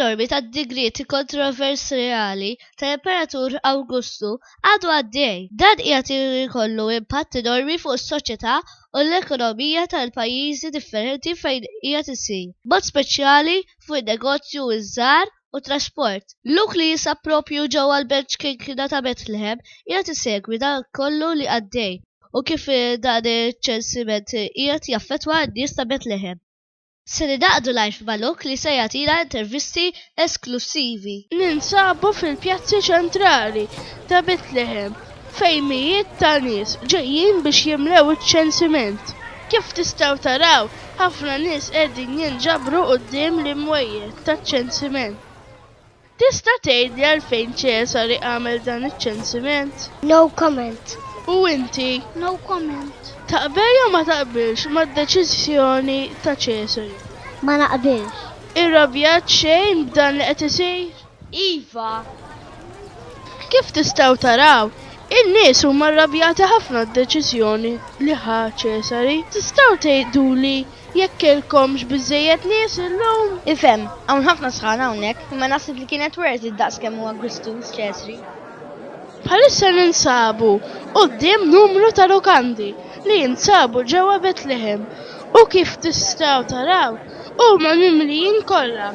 enormi ta' digrieti kontroversjali tal-Imperatur Awgustu għadu għaddej. Dan qiegħed jkollu impatt enormi fuq is-soċjetà u l-ekonomija tal-pajjiżi differenti fejn qiegħed isir, mod speċjali fuq in-negozju iż-żgħar u trasport. Luk li jinsab proprju ġewwa l-Belt Xkinkna ta' Betlehem qiegħed isegwi dak kollu li għaddej u kif dan iċ-ċensiment qiegħed jaffettwa n-nies ta' Betlehem. Se ningħaqdu live ma' Luk li se jagħtina intervisti esklussivi. Ninsabu fil-pjazzi ċentrali ta' Betlehem fejn mijiet ta' nies ġejjin biex jimlew iċ-ċensiment. Kif tistgħu taraw, ħafna nies qegħdin jinġabru quddiem l-imwejjed taċ-ċensiment. Tista' tgħidli għalfejn Ċesari għamel dan iċ-ċensiment? No comment. U inti? No comment. Taqbel jew ma taqbilx mad-deċiżjoni ta' Ċesari? Ma naqbilx. Irrabjat xejn b'dan li qed isir? Iva. Kif tistgħu taraw, in-nies huma rrabjati ħafna d-deċiżjoni li ħa Ċesari. Tistgħu tgħiduli jekk kellkomx biżżejjed nies illum? Ifhem, hawn ħafna sħana hawnhekk, imma naħseb li kienet worth it daqs kemm hu Agustus Ċesri. Bħalissa ninsabu quddiem numru ta' lukandi li jinsabu ġewwa Betlehem u kif tistgħu taraw huma mimlijin kollha.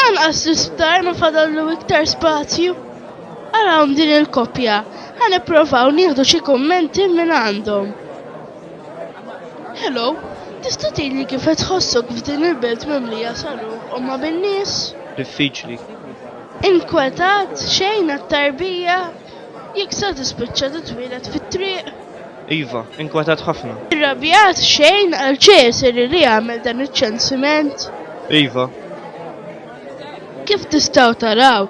Anqas l-isptar ma fadallu iktar spazju. Arawhom din il-koppja. Ħa nipprovaw nieħdu xi kummenti minn għandhom. Hello, tista' tgħidli kif qed tħossok f'din il-belt mimlija saruħ u ma' bin-nies? Diffiċli. Inkwetat xejn għat-tarbija? Jekk sa tispiċċa titwieled fit-triq? Iva, inkwetat ħafna. Irrabjat xejn għal Ċesari li għamel dan iċ-ċensiment? Iva. Kif tistgħu taraw,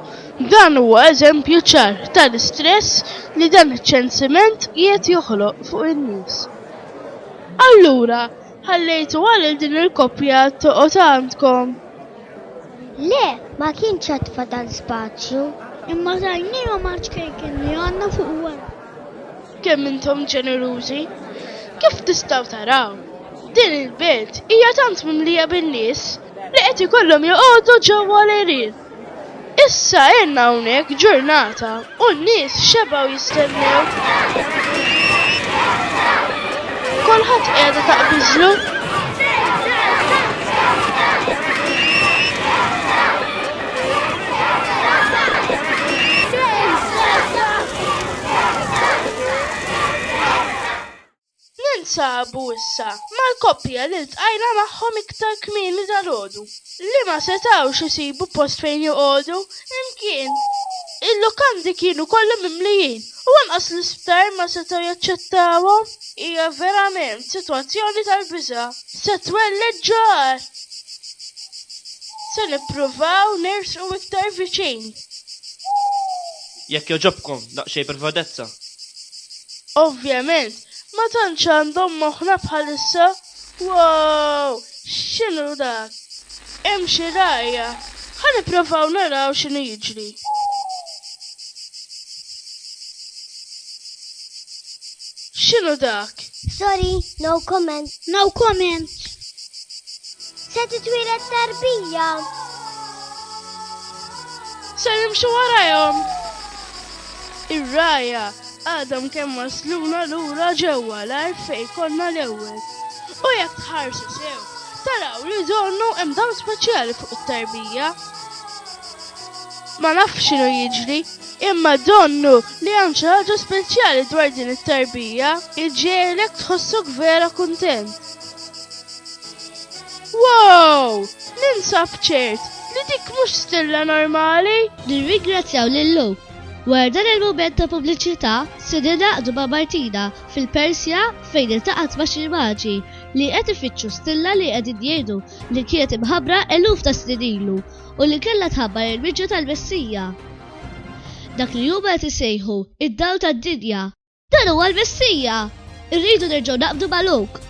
dan huwa eżempju ċar tal-istress li dan iċ-ċensiment qiegħed joħloq fuq in-nies. Allura, ħallejtuha lil din il-koppja toqgħod għandkom? Le, ma kienx għad fadal spazju. Imma tajniehom għax kejken li għandna fuq wara. Kemm intom ġenerużi! Kif tistgħu taraw, din il-belt hija tant mimlija bin-nies li qed ikollhom joqogħdu ġewwa l-għerien. Issa għinna hawnhekk ġurnata u n-nies xebgħu jistennew. Kulħadd qiegħda taqbiżlu. Ninsabu issa mal-koppja li ltqajna magħhom iktar kmieni dalgħodu, li ma setgħux isibu post fejn joqogħdu imkien. Il-lukandi kienu kollha mimlijin u anqas l-isptar ma setgħu jaċċettawhom. Hija verament sitwazzjoni tal-biża'. Se twelled ġagħar! Se nippruvaw nersqu iktar viċin. Jekk jogħġobkom, daqsxejn privatezza. Ovvjament, ma tantx għandhom moħħna bħalissa. Woow! X'inhu dak? Hemm xi rgħajja. Ħa nipprovaw naraw x'inhu jiġri. X'inhu dak? Sorry, no comment. No comment. Se titwieled tarbija. Se nimxu warajhom. Ir-ragħajja għadhom kemm wasluna lura ġewwa l-art fejn konna l-ewwel. U jekk tħarsu sew, taraw li donnu hemm dawl speċjali fuq it-tarbija. Ma nafx x'inhu jiġri, imma donnu li hemm xi ħaġa speċjali dwar din it-tarbija. Iġġegħlek tħossok vera kuntent. Wow! Ninsab ċert li dik mhux stilla normali! Nirringrazzjaw lil Lou. Wara dan il-mument ta' pubbliċità, se ningħaqdu ma' Martina fil-Persja fejn iltaqgħet ma' xi maġi li qed ifittxu stilla li qegħdin jgħidu li kienet imħabbra eluf ta' snin ilu u li kellha tħabbar il-miġja tal-Messija, dak li huma qed isejħu id-dawl tad-dinja. Dan huwa l-Messija! Irridu nerġgħu naqbdu ma' Luke.